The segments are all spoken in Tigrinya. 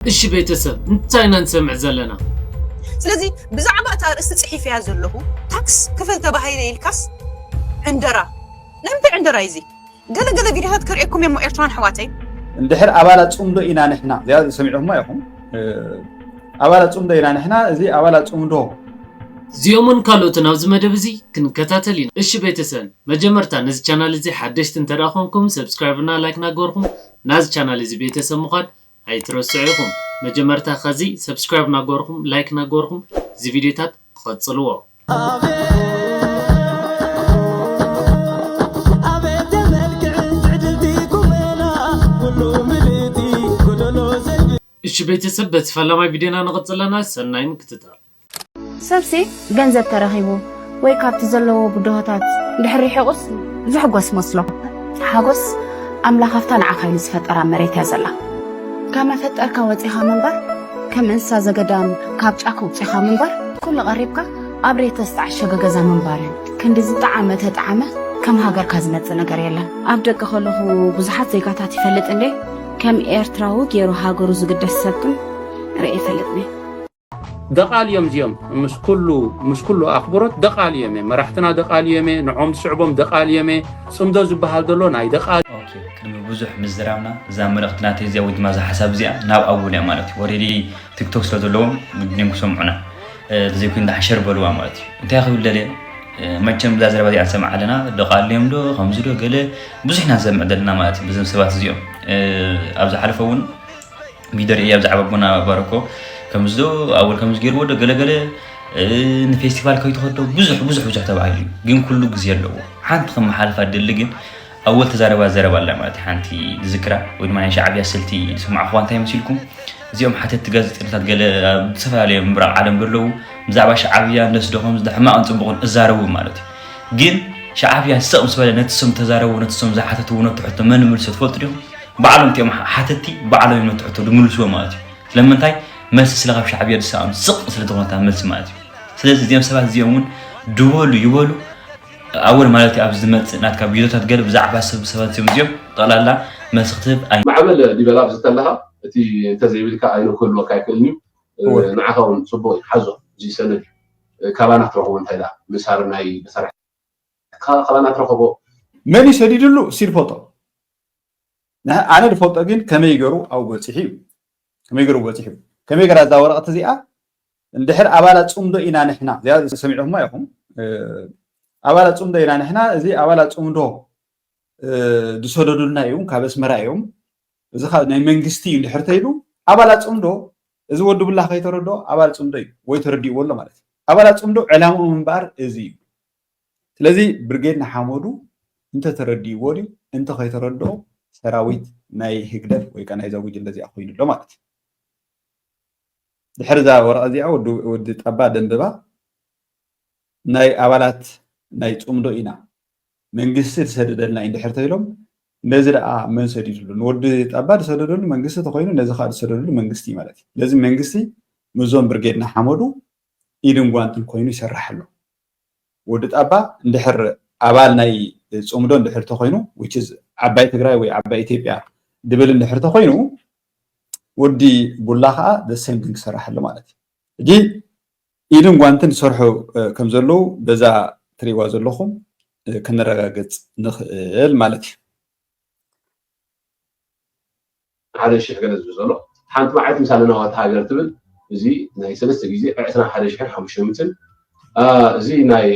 እሺ ቤተሰብ እንታይ ኢና ንሰምዕ ዘለና። ስለዚ ብዛዕባ እታ ኣርእስቲ ጽሒፈያ ዘለኹ ታክስ ክፈል ተባሂለ ኢልካስ ዕንደራ ናይ ምንታይ ዕንደራ እዩ እዚ? ገለ ገለ ቪድዮታት ከርእየኩም እየ እሞ ኤርትራውያን ኣሕዋተይ እንድሕር ኣባላት ፅምዶ ኢና ንሕና እዚኣ ሰሚዕኹማ ኢኹም ኣባላት ፅምዶ ኢና ንሕና እዚ ኣባላት ፅምዶ እዚኦምን ካልኦትን ኣብዚ መደብ እዚ ክንከታተል ኢና እሺ ቤተሰን መጀመርታ ነዚ ቻናል እዚ ሓደሽቲ እንተደኣ ኮንኩም ሰብስክራይብና ላይክ ናገበርኩም ናዚ ቻናል እዚ ቤተሰብ ምዃን ኣይትረስዑ ኢኹም መጀመርታ ከዚ ሰብስክራይብ ናገበርኹም ላይክ ናገበርኹም እዚ ቪድዮታት ቐጽልዎ። እሺ ቤተሰብ በቲ ፈላማይ ቪድዮና ንቕጽል ኣለና ሰናይ ምክትታል። ሰብሲ ገንዘብ ተረኺቡ ወይ ካብቲ ዘለዎ ብድሆታት ድሕር ርሒቑስ ዝሕጎስ መስሎ። ሓጎስ ኣምላኽ ኣብታ ንዓኻ ኢሉ ዝፈጠራ መሬት እያ ዘላ። ካብ መፈጠርካ ወጺኻ ምንባር ከም እንስሳ ዘገዳም ካብ ጫካ ውጺኻ ምንባር ኩሉ ቀሪብካ ኣብ ሬቶ ዝተዓሸገ ገዛ ምንባር እዩ። ክንዲ ዝጠዓመ ተጠዓመ ከም ሃገርካ ዝመጽእ ነገር የለን። ኣብ ደገ ከለኹ ብዙሓት ዜጋታት ይፈልጥ እንዴ ከም ኤርትራዊ ጌሩ ሃገሩ ዝግደስ ሰብ ግን ርእየ ኣይፈልጥን እየ። ደቓል እዮም እዚኦም ምስ ኩሉ ምስ ኩሉ ኣኽብሮት ደቓል እዮም እየ መራሕትና ደቓል እዮም እየ ንዖም ዝስዕቦም ደቓል እዮም እየ ፅምዶ ዝበሃል ዘሎ ናይ ደቓል ቅድሚ ብዙሕ ምዝራብና እዛ መልእኽቲ ናተይ እዚኣ ወይ ድማ እዛ ሓሳብ እዚኣ ናብ ኣቡል እያ ማለት እዩ ወሬዲ ቲክቶክ ስለ ዘለዎም ግድን ክሰምዑና ዘይኮይኑ ዳሓሸር በልዋ ማለት እዩ እንታይ ክብል ደልየ መቸም እዛ ዘረባ እዚኣ ንሰምዓ ኣለና ደቓል እዮም ዶ ከምዚ ዶ ገለ ብዙሕ ኢና ንሰምዕ ዘለና ማለት እዩ ብዞም ሰባት እዚኦም ኣብ ዝሓለፈ እውን ሚደር እያ ብዛዕባ ኣቦና ባረኮ ከምዚ ዶ ኣወል ከምዚ ገይርዎ ዶ ገለገለ ንፌስቲቫል ከይትኸዶ ብዙሕ ብዙሕ ብዙሕ ተባሂሉ እዩ ግን ኩሉ ግዜ ኣለዎ ሓንቲ ከመሓልፋ ደሊ ግን ኣወል ተዛረባ ዘረባ ኣላ ማለት እዩ ሓንቲ ዝዝክራ ወይ ድማ ናይ ሻዕብያ ስልቲ ዝሰማዕኹዋ እንታይ መሲልኩም እዚኦም ሓተትቲ ጋዜጠኛታት ገለ ኣብ ዝተፈላለዩ ምብራቕ ዓለም ዘለዉ ብዛዕባ ሻዕብያ እንደስዶ ከምዚ ሕማቕን ፅቡቕን እዛረቡ ማለት እዩ ግን ሻዕብያ ሰቕ ምስ በለ ነቲ ስም ተዛረቡ ነቲ ስም ዝሓተትዎ ነቲ ሕቶ መን ምልሶ ትፈልጡ ዲኹም ባዕሎም እቲኦም ሓተቲ ባዕሎም እዮም ነቲ ሕቶ ዝምልስዎ ማለት እዩ። ስለምንታይ መልሲ ስለ ካብ ሻዕብያ ዝሰኣኑ ስቅ ስለ ዝኾነት እታ መልሲ ማለት እዩ። ስለዚ እዚኦም ሰባት እዚኦም እውን ድበሉ ይበሉ ኣወል ማለት እዩ ኣብዚ ዝመጽእ ናትካ ቪድዮታት ገለ ብዛዕባ ሰብ ሰባት እዚኦም እዚኦም ጠቕላላ መልሲ ክትህብ ኣይ ማዕበል ዲበላ ኣብዚ ከለኻ እቲ እንተዘይብልካ ኣይኑ ክህልወካ ኣይክእልን እዩ እወ ንዓኻ እውን ጽቡቕ እዩ ሓዞ እዚ ሰነድ እዩ ካባና ክትረኽቦ እንታይ ደኣ ንሳርናይ መሳርሕትኻ ካባና ትረኽቦ መን እዩ ሰዲድሉ ሲድ ፎቶ። ኣነ ዝፈልጦ ግን ከመይ ገሩ ኣብኡ በፂሑ እዩ ከመይ ገሩ በፂሑ ከመይ ገራ እዛ ወረቐት እዚኣ እንድሕር ኣባላት ፅምዶ ኢና ንሕና እዚኣ ሰሚዕኹማ ኢኹም ኣባላት ፅምዶ ኢና ንሕና እዚ ኣባላት ፅምዶ ዝሰደዱልና እዮም ካብ ኣስመራ እዮም እዚ ካብ ናይ መንግስቲ እዩ እንድሕር ተይሉ ኣባላት ፅምዶ እዚ ወዲ ብላ ከይተረድኦ ኣባል ፅምዶ እዩ ወይ ተረዲእዎ ኣሎ ማለት እዩ ኣባላት ፅምዶ ዕላምኦም እምበኣር እዚ እዩ ስለዚ ብርጌድ ንሓመዱ እንተተረዲእዎ ድዩ እንተከይተረድኦ ሰራዊት ናይ ህግደፍ ወይ ከኣ ናይዛ ጉጅለ እዚኣ ኮይኑ ኣሎ ማለት እዩ። ድሕሪ እዛ ወረቐት እዚኣ ወዲ ጠባ ደንብባ ናይ ኣባላት ናይ ጽምዶ ኢና መንግስቲ ዝሰደደልና እዩ እንድሕር ተይሎም ነዚ ደኣ መን ሰዲድሉ ንወዲ ጠባ ዝሰደደሉ መንግስቲ ተኮይኑ ነዚ ከዓ ዝሰደደሉ መንግስቲ እዩ ማለት እዩ ስለዚ መንግስቲ ምዞም ብርጌድና ሓመዱ ኢድን ጓንትን ኮይኑ ይሰርሕ ኣሎ ወዲ ጣባ እንድሕር ኣባል ናይ ጽምዶ እንድሕር ተኾይኑ which is ዓባይ ትግራይ ወይ ዓባይ ኢትዮጵያ ድብል እንድሕር ተኾይኑ ወዲ ቡላ ከኣ the same thing ክሰርሕ ኣሎ ማለት እዩ። ሕጂ ኢድን ጓንትን ዝሰርሑ ከም ዘለዉ በዛ ትሪእዋ ዘለኹም ከነረጋግጽ ንኽእል ማለት እዩ። ሓደ ሽሕ ገለ ዝብል ዘሎ ሓንቲ መዓልቲ ምስ ኣለና ዋልታ ሃገር ትብል እዚ ናይ ሰለስተ ግዜ ዕስራን ሓደ ሽሕን ሓሙሽተ ሚእትን እዚ ናይ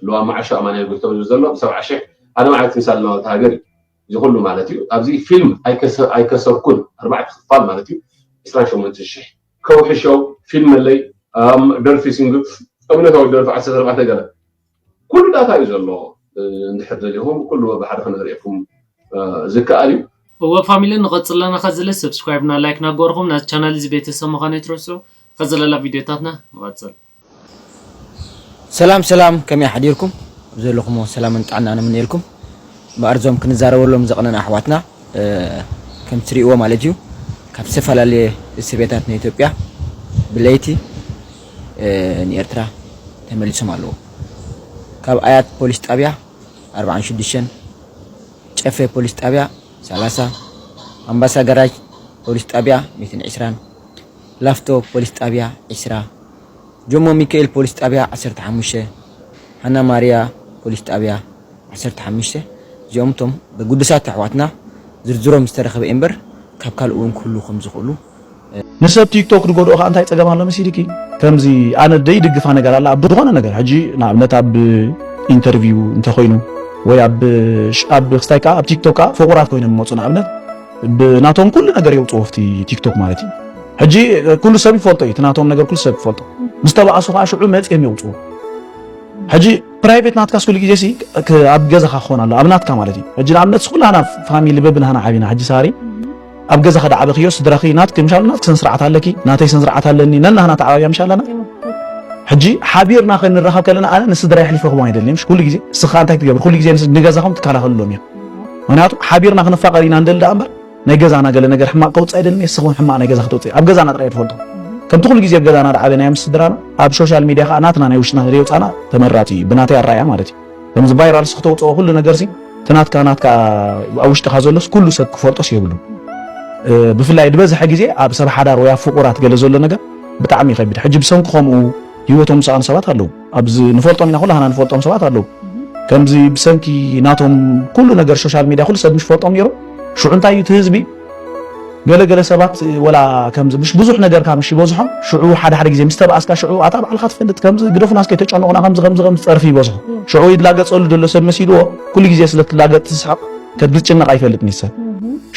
ልዋም መዓሾ ኣማንኤል ጎይቶም ዝብል ዘሎ ብሰብዓ ሽሕ ሓደ መዓልቲ ምስ ኣለና ዋልታ ሃገር እዩ እዚ ኩሉ ማለት እዩ ኣብዚ ፊልም ኣይከሰርኩን ኣርባዕተ ክፋል ማለት እዩ ዕስራን ሸሞንትን ሽሕ ከውሒ ሸው ፊልም ኣለይ ደርፊ ሲንግል እምነታዊ ደርፊ ዓሰርተ ኣርባዕተ ገለ ኩሉ ዳታ እዩ ዘሎ እንድሕር ደሊኹም ኩሉ በብሓደ ክነርእየኩም ዝከኣል እዩ። እወ ፋሚሊ ንቀጽል ኣለና ከዝለ ሰብስክራይብ እና ላይክ ናገበርኹም ናዚ ቻናል እዚ ቤተሰብ ምዃን ኣይትረስዑ ከዘለላ ቪድዮታትና ንቀጽል። ሰላም ሰላም ከመይ ኣሕዲርኩም ኣብ ዘለኹሞ ሰላምን ጥዕናን እምነየልኩም እምበኣር እዞም ክንዛረበሎም ዘቕነና ኣሕዋትና ከም ትሪእዎ ማለት እዩ ካብ ዝተፈላለየ እስር ቤታት ናይ ኢትዮጵያ ብለይቲ ንኤርትራ ተመሊሶም ኣለዉ። ካብ ኣያት ፖሊስ ጣብያ ኣርብዓን ሽዱሽተን፣ ጨፌ ፖሊስ ጣብያ ሰላሳ፣ ኣምባሳ ገራጅ ፖሊስ ጣብያ ሚእትን ዕስራን፣ ላፍቶ ፖሊስ ጣብያ ዕስራ፣ ጆሞ ሚካኤል ፖሊስ ጣብያ ዓሰርተ ሓሙሽተ፣ ሃና ማርያ ፖሊስ ጣብያ ዓሰርተ ሓሙሽተ እዚኦም እቶም ብግዱሳት ኣሕዋትና ዝርዝሮም ዝተረኸበ እዩ'ምበር ካብ ካልእ እውን ክህልዉ ከምዝኽእሉ ንሰብ ቲክቶክ ድጎድኦ ከኣ እንታይ ጸገም ኣሎ መሲልኪ ከምዚ ኣነ ደይድግፋ ነገር ኣላ ኣብ ዝኾነ ነገር ሕጂ ንኣብነት ኣብ ኢንተርቪው እንተኾይኑ ወይ ኣብ ኣብ ክስታይ ከኣ ኣብ ቲክቶክ ከኣ ፍቑራት ኮይኖም ይመጹ ንኣብነት ብናቶም ኩሉ ነገር የውጽዎ ፍቲ ቲክቶክ ማለት እዩ ሕጂ ኩሉ ሰብ ይፈልጦ እዩ ትናቶም ነገር ኩሉ ሰብ ይፈልጦ ምስ ተባኣሱ ከዓ ሽዑ መፅኦም የውፅኡ ሕጂ ፕራይቬት ናትካስ ኩሉ ግዜ ሲ ኣብ ገዛኻ ክኾን ኣሎ ኣብ ናትካ ማለት እዩ ሕጂ ንኣብነት ኩላና ፋሚሊ በብናህና ዓቢና ሕጂ ሳሪ ኣብ ገዛኺ ድዓበኽዮ ስድራኺ ናትኪ ምሻሉ ናትኪ ስነስርዓት ኣለኪ ናተይ ስነስርዓት ኣለኒ ነናህና ተዓባብያ ምሻ ኣለና ሕጂ ሓቢርና ክንራኸብ ከለና ኣነ ንስድራይ ኣሕሊፈ ክቦም ኣይደልየ ምሽ ኩሉ ግዜ እስኻ እንታይ ትገብር ኩሉ ግዜ ንገዛኹም ትከላኸልሎም እዮም ምክንያቱ ሓቢርና ክንፋቐር ኢና ንደሊ ደኣ እምበር ናይ ገዛና ገለ ነገር ሕማቕ ከውፅእ ኣይደልን እየ ስኹም ሕማቕ ናይ ገዛ ክትውፅእ ኣብ ገዛና ጥራይ ትፈልጦ ከምቲ ኩሉ ግዜ ኣብ ገዛና ድዓበናዮ ምስ ስድራና ኣብ ሶሻል ሚድያ ከዓ ናትና ናይ ውሽጥና ዘየውፃና ተመራፂ እዩ ብናተይ ኣረኣያ ማለት እዩ ከምዚ ቫይራልስ ክተውጽኦ ኩሉ ነገርሲ እቲ ናትካ ናትካ ኣብ ውሽጥኻ ዘሎስ ኩሉ ሰብ ክፈልጦስ የብሉ ብፍላይ ዝበዝሐ ግዜ ኣብ ሰብ ሓዳር ወይ ኣብ ፍቑራት ገለ ዘሎ ነገር ብጣዕሚ ይኸብድ ሕጂ ብሰንኪ ከምኡ ህይወቶም ዝሰኣኑ ሰባት ኣለዉ ኣብዚ ንፈልጦም ኢና ኩላህና ንፈልጦም ሰባት ኣለዉ ከምዚ ብሰንኪ ናቶም ኩሉ ነገር ሶሻል ሚድያ ኩሉ ሰብ ምስ ፈልጦም ነይሩ ሽዑ እንታይ እዩ እቲ ህዝቢ ገለ ገለ ሰባት ወላ ከምዚ ምሽ ብዙሕ ነገርካ ምሽ ይበዝሖም ሽዑ ሓደ ሓደ ግዜ ምስ ተባኣስካ ሽዑ ኣታ ባዕልካ ትፈልጥ ከምዚ ግደፉና እስከ ተጨንቑና ከምዚ ከምዚ ከምዚ ጸርፊ ይበዝሖ ሽዑ ይላገጸሉ ዘሎ ሰብ መሲልዎ ኩሉ ግዜ ስለ ትላገጽ ትስሕቕ ከድ ዝጭነቕ ኣይፈልጥን ሰብ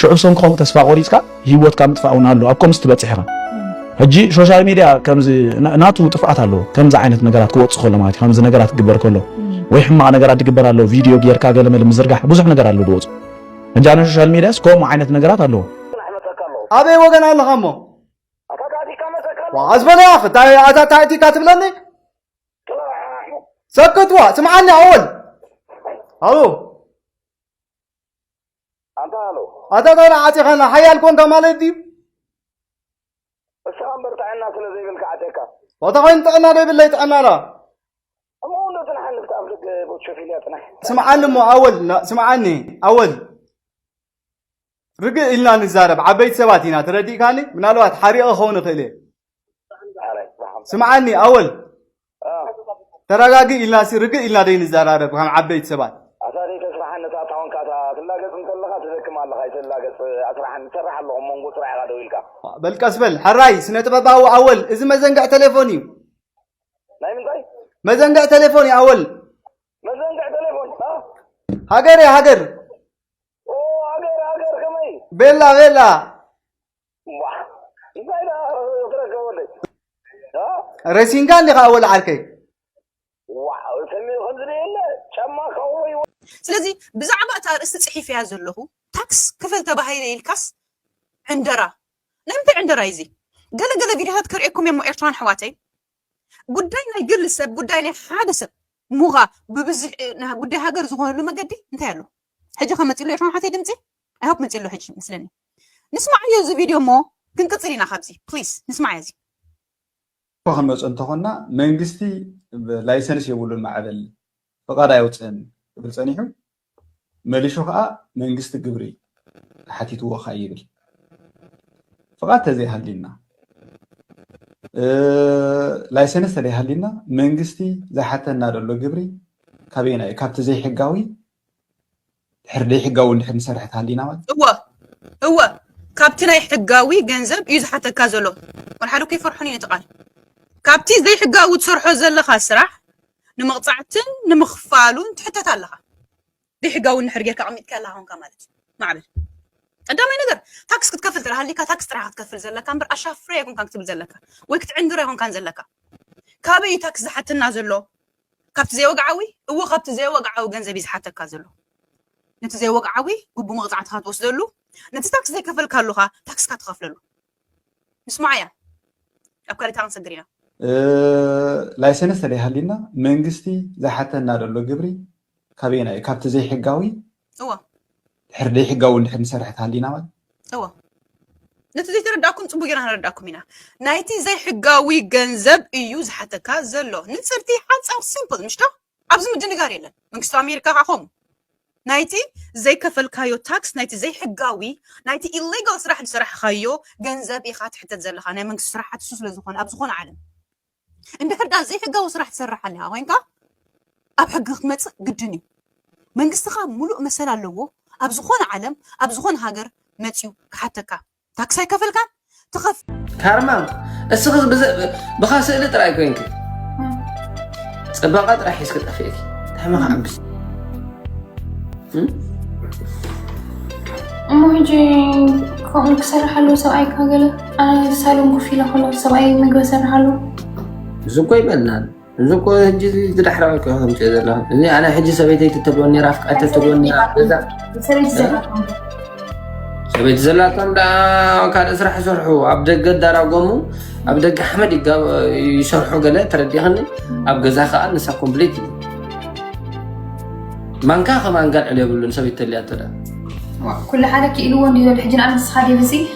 ሽዑ ብሰንኪ ከምኡ ተስፋ ቆሪጽካ ሂወትካ ምጥፋእ እውን ኣሎ ኣብ ከምዚ ትበጽሕ ኢኻ ሕጂ ሶሻል ሚድያ ከምዚ ናቱ ጥፍኣት ኣለዎ ከምዚ ዓይነት ነገራት ክወጽእ ከሎ ማለት እዩ ከምዚ ነገራት ክግበር ከሎ ወይ ሕማቕ ነገራት ዝግበር ኣሎ ቪድዮ ጌርካ ገለመለ ምዝርጋሕ ብዙሕ ነገር ኣሎ ዝወጽእ እንጃ ን ሶሻል ሚድያስ ከምኡ ዓይነት ነገራት ኣለዎ። ኣበይ ወገን ኣለኻ እሞ ዋዓዝ በለያ ክታይ ኣታ ታይቲካ ትብለኒ ሰክትዋ ስምዓኒ ኣወል ኣሉ ኣታ ታይላ ዓፂኻና ሓያል ኮንካ ማለት ድዩ እሱ ኣምበር ጥዕና ስለ ዘይብልካ ዓፀካ ዋታ ኮይኑ ጥዕና ዘይብለይ ጥዕና ላ ከምኡውን ዶ ትንሓልፍ ከኣብ ደገ ቦትሾፊልያ ጥናሕ ስምዓኒ እሞ ኣወል ና- ስምዓኒ ኣወል ርግእ ኢልና ንዛረብ ዓበይቲ ሰባት ኢና ተረዲእካኒ ምናልባት ሓሪቐ ክኸውን ይኽእል እየ ሓራይ ብሓም ስምዓኒ ኣወል ተረጋጊ ኢልና ሲ ርግእ ኢልና ደይ ንዘራረብ ከም ዓበይቲ ሰባት ኣታ ደይ ተስራሓኒ እታ ታወንካ እታ ትላገጽ እንተለኻ ትደክም ኣለኻ ይተላገጽ ኣስራሓኒ ትሰርሕ ኣለኹ እሞ ንጎ ስራሕ ኢኻ ደው ኢልካ በል ቀስ በል ሕራይ ስነ ጥበባዊ ኣወል እዚ መዘንግዕ ቴሌፎን እዩ ናይ ምንታይ መዘንግዕ ቴሌፎን እዩ ኣወል መዘንግዕ ቴሌፎን ሃገር እያ ሃገር ሃገር ሃገር ከመይ ቤላ ቤላ እንታይ ዳ ትረከበለይ ረሲንካ እንዲኻ ኣወል ዓርከይ ስለዚ ብዛዕባ እታ ርእስቲ ጽሒፈያ ዘለኹ ታክስ ክፈል ተባሂለ ኢልካስ ዕንደራ ናይ ምንታይ ዕንደራ'ዩ እዚ? ገለ ገለ ቪድዮታት ከርእየኩም እየ'ሞ ኤርትራውያን ኣሕዋተይ፣ ጉዳይ ናይ ግል ሰብ፣ ጉዳይ ናይ ሓደ ሰብ ሙኻ ብብዝሒ ጉዳይ ሃገር ዝኾነሉ መገዲ እንታይ ኣሎ? ሕጂ ከ መጺኡ'ሎ ኤርትራውያን ኣሕዋተይ ድምጺ? ኣይ ሆፕ መጺኡ'ሎ ሕጂ መስለኒ። ንስማዓዮ እዚ ቪድዮ እሞ ክንቅጽል ኢና ካብዚ። ፕሊስ ንስማዓዮ እዚ። እኮ ክንመጾ እንተኾንና መንግስቲ ላይሰንስ የብሉን ማዕበል ፍቃድ ኣየውጽእን ክብል ጸኒሑ መሊሹ ከኣ መንግስቲ ግብሪ ተሓቲትዎ ካይ ይብል ፍቓድ ተዘይሃልዩና ላይሰንስ ተደይሃልዩና መንግስቲ ዝሓተና ዘሎ ግብሪ ካበየና እዩ ካብቲ ዘይሕጋዊ ድሕር ዘይሕጋዊ እንድሕር ንሰርሕ ተሃሊና ማለት እወ እወ ካብቲ ናይ ሕጋዊ ገንዘብ እዩ ዝሓተካ ዘሎ ወልሓደ ከይፈርሑን እዩ እቲ ቃል ካብቲ ዘይሕጋዊ ትሰርሖ ዘለኻ ስራሕ ንምቕጻዕትን ንምኽፋሉን ትሕተት ኣለኻ ዘይሕጋዊ እንድሕር ጌርካ ኣቐሚጥካዮ ኣለኻ ኮንካ ማለት እዩ ማዕብል ቀዳማይ ነገር ታክስ ክትከፍል ጥራሕ ሃሊካ ታክስ ጥራሕ ክትከፍል ዘለካ እምበር ኣሻፍረ ኣይኮንካን ክትብል ዘለካ ወይ ክትዕንድር ኣይኮንካን ዘለካ ካበይ እዩ ታክስ ዝሓተና ዘሎ ካብቲ ዘይወግዓዊ እዎ ካብቲ ዘይወግዓዊ ገንዘብ እዩ ዝሓተካ ዘሎ ነቲ ዘይወግዓዊ ግቡ መቕፃዕትካ ትወስደሉ ነቲ ታክስ ዘይከፈልካሉካ ታክስካ ትኸፍለሉ ንስማዕ ኢና ኣብ ካሊታ ክንሰግር ኢና። ላይሰንስ ተደይሃልዩና መንግስቲ ዝሓተና ዘሎ ግብሪ ካበየናይ እዩ ካብቲ ዘይሕጋዊ እዎ ድሕር ዘይሕጋዊ እንድሕር ንሰርሕ ተሃሊና ማለት እዎ ነቲ ዘይተረዳእኩም ፅቡቅ ጌርና ክንረዳእኩም ኢና ናይቲ ዘይሕጋዊ ገንዘብ እዩ ዝሓተካ ዘሎ ንፅርቲ ሓፃር ሲምፕል ምሽዶ ኣብዚ ምድንጋር የለን መንግስቲ ኣሜሪካ ከኣ ከምኡ ናይቲ ዘይከፈልካዮ ታክስ ናይቲ ዘይሕጋዊ ናይቲ ኢሌጋል ስራሕ ዝሰራሕኻዮ ገንዘብ ኢኻ ትሕተት ዘለኻ ናይ መንግስቲ ስራሓት እሱ ስለ ዝኾነ ኣብ ዝኾነ ዓለም እንድሕር ዳ ዘይሕጋዊ ስራሕ ትሰርሕ ኣለኻ ኮይንካ ኣብ ሕጊ ክትመፅእ ግድን እዩ መንግስትኻ ሙሉእ መሰል ኣለዎ ኣብ ዝኾነ ዓለም ኣብ ዝኾነ ሃገር መፅዩ ክሓተካ ታክሲ ኣይከፈልካን ትኸፍ ካርማም እስኺ ብኻ ስእሊ ጥራይ ኮንኪ ፅባቐ ጥራሕ ሒዝኪ ጠፊእኪ ታሕሚ ከዓብስ እሞ ሕጂ ከምኡ ክሰርሕ ኣለዎ ሰብኣይ ካገለ ኣነ ሳሎም ኮፍ ኢለ ከለኹ ሰብኣይ ምግቢ ሰርሕ ኣለዎ እዚ እኮ ይበልናል እዚ እኮ ሕጂ እዚ ዳሕራዊ እኮ ከምፅኦ ዘለኹ እዚ ኣነ ሕጂ ሰበይተይ ትተልወኒ ነራ ፍቃድ ተትልወኒ ነራ ገዛ ሰበይቲ ዘላቶም ደኣ ካልእ ስራሕ ይሰርሑ ኣብ ደገ ዳራጎሙ ኣብ ደገ ሓመድ ይሰርሑ ገለ ተረዲኽኒ ኣብ ገዛ ከዓ ንሳ ኮምፕሊት እዩ ማንካ ከማን ጋልዕል የብሉን ሰበይቲ ተልያ ተዳ ኩሉ ሓደ ክኢልዎ እንዲዩ ዘሎ ሕጂ ንኣብነት ንስኻ ዴቭ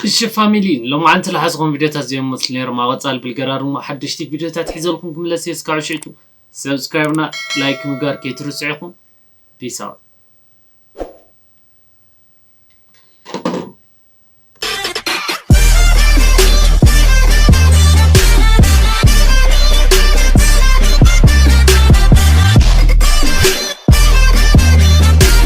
እሺ ፋሚሊ ሎማዓንቲ ልሓዝኹም ቪድዮታት ዚዮም ልመስሉ ነይሮም ኣብ ቐፃሊ ብልገራር እሞ ሓደሽቲ ቪድዮታት ሒዘልኩም ክምለስ እየ እስካብ ሽዕቱ subscribe እና like ምግባር ከይትርስዑ ኢኹም peace out።